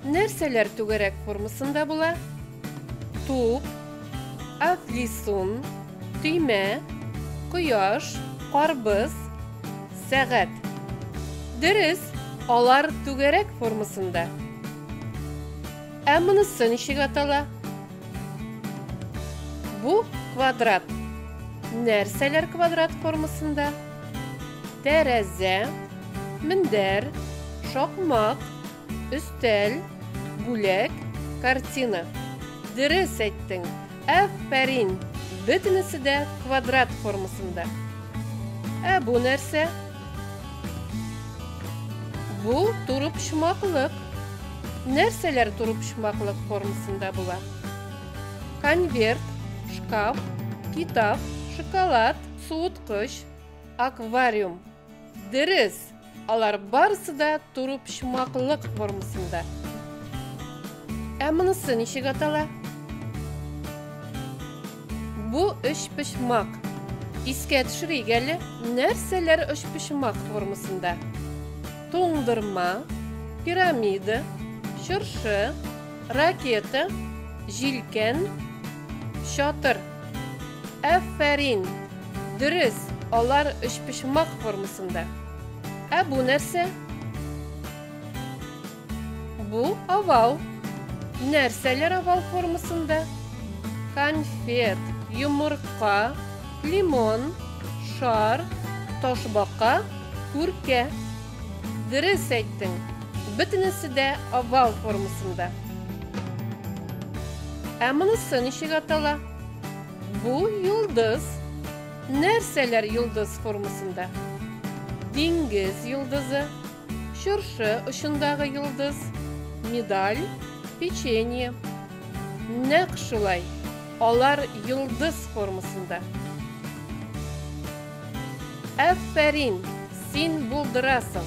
Нәрсәләр түгәрәк формасында була? Туп, афлисун, төймә, кояш, карбыз, сәгать. Дөрес, алар түгәрәк формасында. Ә монысы ничек атала? Бу квадрат. Нәрсәләр квадрат формасында? Тәрәзә, мендәр, шакмак, Өстәл, бүләк, картина. Дөрес әйттең! Афәрин! Бөтенесе дә квадрат формасында. Ә бу нәрсә? Бу турыпчмаклык. Нәрсәләр турыпчмаклык формасында була? Конверт, шкаф, китап, шоколад, суыткыч, аквариум. Дөрес, алар барысы да турыпчмаклык формасында. Ә монысы ничек атала? Бу өчпочмак. Искә төшерик әле, нәрсәләр өчпочмак формасында? Туңдырма, пирамида, чыршы, ракета, җилкән, чатыр. Әффәрин! Дөрес, алар өчпочмак формасында. Ә бу нәрсә? Бу овал. Нәрсәләр овал формасында? Конфет, йомырка, лимон, шар, ташбака, күркә. Дөрес әйттең, бөтенесе дә овал формасында. Ә монысы ничек атала? Бу йолдыз. Нәрсәләр йолдыз формасында? Диңгез йолдызы, чыршы очындагы йолдыз, медаль, печенье. Нәкъ шулай, алар йолдыз формасында. Әффәрин! Син булдырасың!